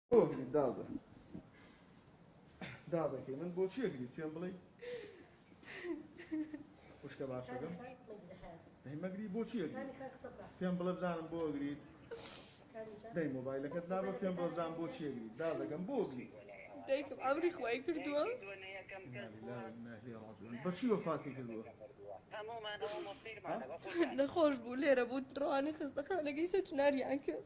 بۆ گریم داڵدە داڵدەکەی من بۆ چیە گریت پێم بڵی خوشکە باشەکەم مەگری بۆ چیە پێم بڵێ بزانم بۆ گریت دەی مۆبایلەکەت نابە پێم بۆ بزان بۆ چیە گریت داڵدەکەم بۆ گریت دایکم ئەمری خوای کردووە بەچی وەفاتی کردووە نەخۆش بوو لێرە بوو ڕوانە خستەخانەکەی سەچناریان کرد